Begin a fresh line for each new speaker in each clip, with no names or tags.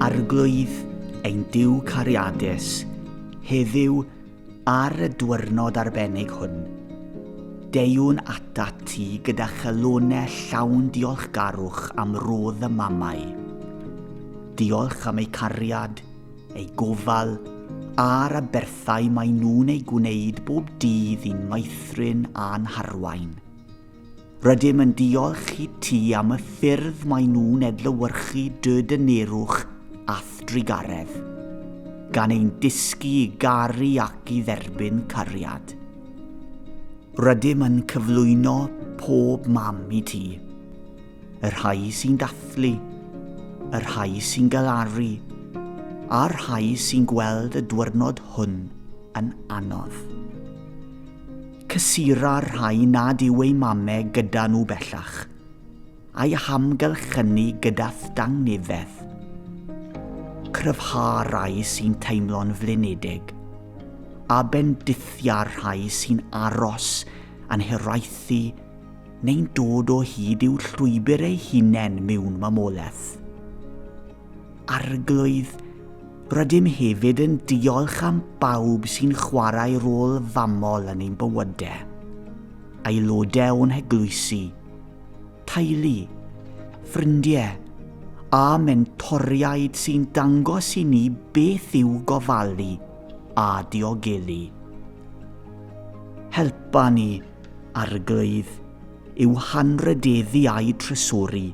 Arglwydd ein Duw cariadus, heddiw ar y dwyrnod arbennig hwn, deuwn ata ti gyda chelonau llawn diolchgarwch am rodd y mamau. Diolch am eu cariad, eu gofal, a'r aberthau maen nhw'n ei gwneud bob dydd i'n maethrin a'n harwain. Rydym yn diolch i ti am y ffyrdd mae nhw'n edlywyrchu dy dynerwch a'th drugaredd, gan ein dysgu i garu ac i dderbyn cariad. Rydym yn cyflwyno pob mam i ti, y rhai sy'n dathlu, y rhai sy'n galaru, a'r rhai sy'n gweld y dwyrnod hwn yn anodd. Cysura'r rhai nad yw eu mame gyda nhw bellach, a'i hamgylchynu gyda thdangniddeth. Cryfha'r rhai sy'n teimlo'n flinedig, a bendithia'r rhai sy'n aros yn hiraethu neu'n dod o hyd i'w llwybr eu hunain mewn mamolaeth. Arglwydd, rydym hefyd yn diolch am bawb sy'n chwarae rôl famol yn ein bywydau. Aelodau o'n heglwysi, teulu, ffrindiau a mentoriaid sy'n dangos i ni beth yw gofalu a diogelu. Helpa ni, Arglwydd, i'w hanrhydeddu a'i trysori.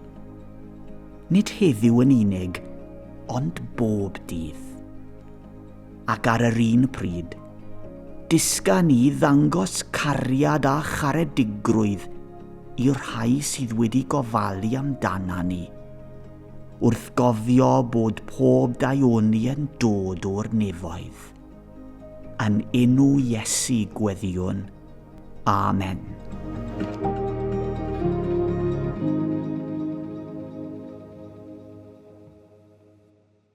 nid heddiw yn unig, ond bob dydd. Ac ar yr un pryd, dysga ni ddangos cariad a charedigrwydd i'r rhai sydd wedi gofalu amdana ni, wrth gofio bod pob daioni yn dod o'r nefoedd. Yn enw Iesu gweddiwn. Amen.